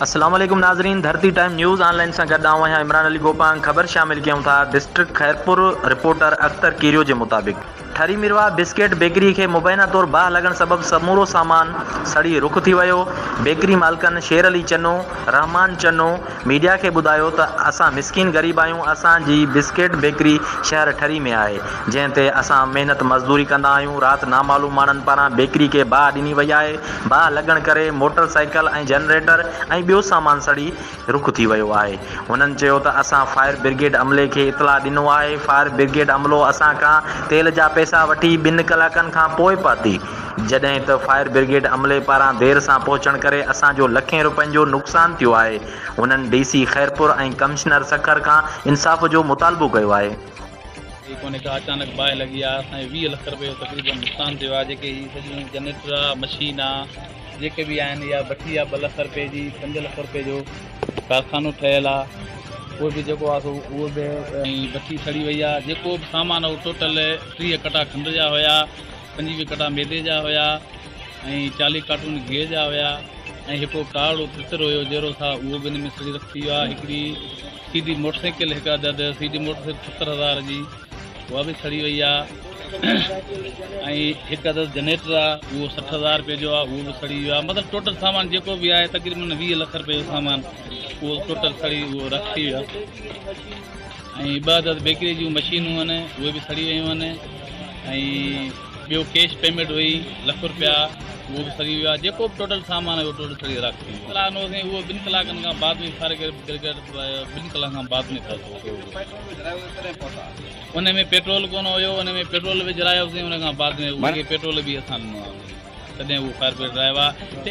السلام عليڪم ناظرين Dharti time news online سان گڏ آئون آهيان عمران علي گوپانگ خبر شامل ڪيون ٿا ڊسٽرڪٽ خيرپور رپورٽر اختر ڪيريو جي مطابق ٺري ميرواهه بسڪيٽ بيڪري کي مبينا طور باهه لڳڻ سبب سمورو سامان سڙي رک ٿي ويو بيڪري مالڪن شير علي چنو رحمان چنو ميڊيا کي ٻڌايو ته اسان مسڪين غريب آهيون، اسان جي بسڪيٽ بيڪري شهر ٺري ۾ آهي، جنهن تي اسان محنت مزدوري ڪندا آهيون، رات نامعلوم ماڻهن پاران بيڪري کي باهه ڏني وئي آهي، باهه لڳڻ ڪري موٽر سائيڪل ۽ جنريٽر ۽ ٻيو سامان سڙي رک ٿي ويو آهي، هنن چيو ته اسان فائر برگيڊ عملي کي اطلاع ڏنو آهي، فائر برگيڊ عملو اسان کان تيل جا پئسا وٺي ٻن ڪلاڪن کان پوء پهتي. جڏهن ته فائر برگيڊ عملي پاران دير سان پهچڻ ڪري اسان جو لکين روپين جو نقصان ٿيو آهي، هنن D C Khairpur ۽ commissioner Sukkur کان انصاف جو مطالبو ڪيو آهي. اهي ڪونهي ڪا اچانڪ باهه لڳي آهي، اسان جو ويهه لک روپيه جو تقريبن نقصان ٿيو آهي، جيڪي هي سڄيون جنريٽر آ، مشين آ، جيڪي به آهن اها بٺي آ ٻه لک روپيه جي، پنج لک روپيه جو ڪارخانو ٺهيل آ، اهو به جيڪو آ سو اهو به ۽ بٺي سڙي وئي آ، جيڪو به سامان هو ٽوٽل ٽيهه ڪٽا کنڊ جا هيا. پنجيهه وڪٽا ميدي جا هيا ۽ چاليهه ڪارٽون گيهه جا هيا ۽ هڪڙو ڪارڙو تتر هيو جهرو سا اهو به ان ۾ سڙي رک ٿي ويو آهي هڪڙي سي ڊي موٽر سائيڪل هڪ عدد سي ڊي موٽر سائيڪل ستر هزار جي اها به سڙي وئي آهي ۽ هڪ عدد جنريٽر آهي اهو سٺ هزار روپئي جو آهي اهو به سڙي ويو آهي مطلب ٽوٽل سامان جيڪو به آهي تقريبن ويهه لک روپئي جو سامان اهو ٽوٽل سڙي اهو رک ٿي ويو آهي ۽ عبادت بيڪري جون مشينون هن اهي به سڙي ويون هن ۽ ٻيو ڪيش پيميٽ هئي لک روپيا اهو به سڙي ويو آهي جيڪو به ٽوٽل سامان هيو ٽوٽل سڙي راک ٿي ويو ڪلاڪ نو سائين اهو ٻن ڪلاڪن کان بعد ۾ فائر برگيڊ ٻن ڪلاڪن کان بعد ۾ ان ۾ پيٽرول ڪونه هيو ان ۾ پيٽرول وجھرايو سائين ان کان بعد ۾ ان کي پيٽرول به اسان ڏنو آهي تڏهن اهو فائر برگيڊ آيو آهي